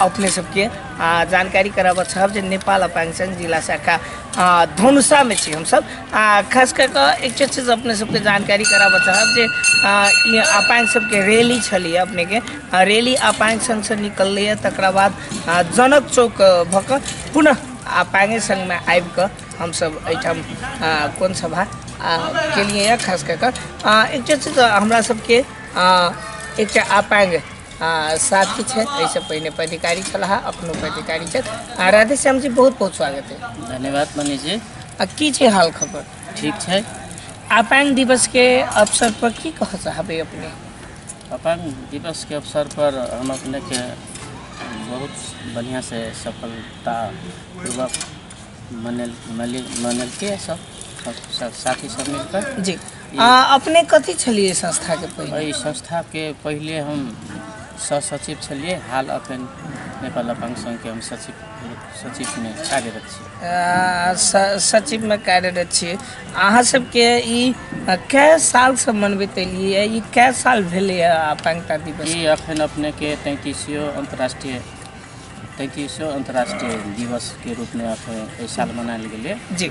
अपने सबके आ, जानकारी कराबऽ चाहब जे नेपाल अपाङ्सङ जिल्ला शाखा आ, धनुषामे छी हमसब आ खास कऽ कऽ एकटा चीज अपने सबके जानकारी कराबऽ चाहब जे आ, ई अपाङ्ग सबके रैली छलैए अपनेके आ, रैली अपाङ्ग सङ्घसँ निकललैए तकरा बाद आ, जनक चौक आ, भऽ कऽ पुनः अपाङ्गे सङ्घमे आबि कऽ हमसब एहिठाम आ, कोन सभा आ, केलिए खास कऽ कऽ आ, एकटा चीज हमरा सबके आ, एकटा अपाङ्ग आ साथी छथि एहिसँ पहिने पदाधिकारी छलाह अपनो पदाधिकारी छथि आ राधे श्याम जी बहुत बहुत स्वागत है धन्यवाद मनीष जी आ की छै हाल खबर ठीक छै अपाङ्ग दिवसके अवसर पर की कह चाहबै अपने अपाङ्ग दिवसके अवसर पर हम अपनेके बहुत बढ़िया से सफलता पूर्वक मनेल मनेलके सब साथी सब मिलकर जी आ अपने कथी छलियै एहि संस्थाके पहिले एहि संस्थाके पहिले हम सहसचिव छलियै हाल अखन नेपाल अपाङ्ग सङ्घके हम सचिव सचिवमे कार्यरत छी आ, स- सचिवमे कार्यरत छी अहाँ सबके ई आ, कै सालसँ मनबैत एलियै ई कै साल भेलैए अपाङ्गता दिवस ई अखन अपनेके तैँतिसियो अन्तर्राष्ट्रिय तैँतिसियो अन्तर्राष्ट्रिय दिवसके रूपमे अखन एहि साल मनायल गेलै जी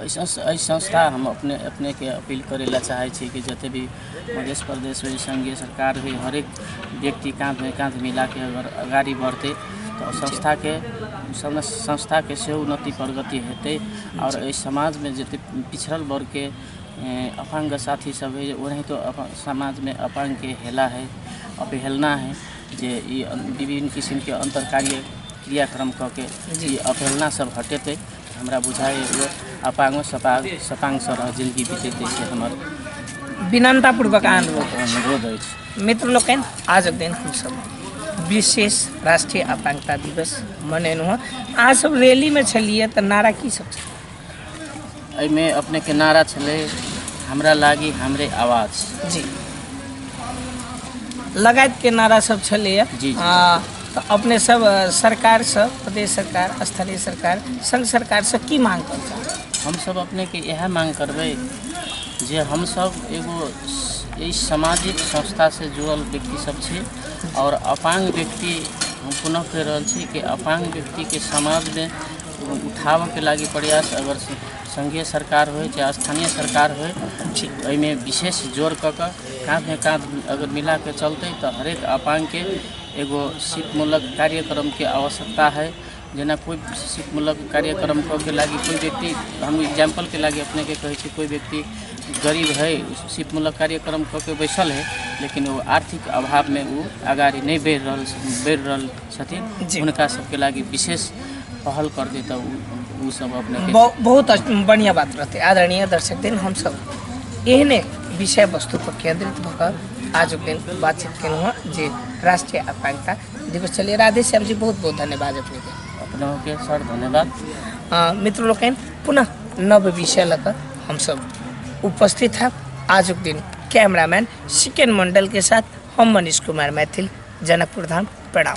ऐसा एहि संस्था हम अपने अपनेके अपील करै लए चाहै छी कि जते भी मध्य प्रदेश होइ संघीय सरकार होइ हरेक व्यक्ति काँधमे काँध मिलाके अगर अगाडि बढतै तऽ संस्थाके सब संस्थाके सेहो उन्नति प्रगति हेतै आओर एहि समाजमे जते पिछड़ल वर्गके अपाङ्ग साथी सब है ओनाहितो अपन समाजमे अपाङ्गके हेला है अपहेलना है जे ई विभिन्न किसिमके अन्तर कार्य क्रियाक्रम कऽ के ई अपहेलना सब हटेतै हमरा बुझाइ एगो अपाङ्गो सपाङ सपाङ सरह जिन्दगी बितैत अछि हमर विनम्रतापूर्वक आन लोग अनुरोध अछि मित्र लोकनि आजक दिन हमसभ विशेष राष्ट्रीय अपाङ्गता दिवस मनेलहुँ हँ अहाँ सब रैलीमे छलियै तऽ नारा की सब छलै एहिमे अपनेके नारा छलै हमरा लागि हमरे आवाज जी लगायतके नारा सब छलैए जी, जी। आ तऽ अपने सब अ, सरकार से प्रदेश सरकार स्थानीय सरकार संघ सरकार से की मांग करता हमसब अपनेके इएह मांग करबै जे हमसब एगो स- एहि सामाजिक संस्थासँ जुड़ल व्यक्ति सब छी आओर अपाङ्ग व्यक्ति हम पुनः कहि रहल छी कि अपाङ्ग व्यक्तिके समाजमे उठाबऽके लागि प्रयास अगर स- सङ्घीय सरकार होय चाहे स्थानीय सरकार होय से एहिमे विशेष जोर कऽ कऽ काँधमे काँध अगर मिलाके चलतै तऽ हरेक अपाङ्गके एगो शिल्पमूलक कार्यक्रमके आवश्यकता है जेना कोइ शिल्पमूलक कार्यक्रम के लागि कोइ व्यक्ति हम एग्जाम्पलके लागि अपनेके कहै छी कोइ व्यक्ति गरीब है शिल्पमूलक कार्यक्रम कऽ के बैसल है लेकिन ओ आर्थिक अभावमे ओ अगाडि नहि बढ़ि रहल बढ़ि रहल छथिन हुनका सबके लागि विशेष पहल कर दे तऽ ओ सब अपने बहुत बढ़िया बात रहते आदरणीय दर्शक दिन हमसब एहने विषय वस्तु पर केंद्रित भऽ कऽ आज दिन बातचीत केलहुँ हँ जे राष्ट्रीय आकांक्षा दिवस चलिए राधे श्याम जी बहुत बहुत धन्यवाद अपने के अपना के सर धन्यवाद अ, मित्र लोकनि पुनः नव विषय लऽ कऽ हमसभ उपस्थित हैं आजुक दिन कैमरामैन सिकन मंडल के साथ हम मनीष कुमार मैथिल जनकपुर धाम प्रणाम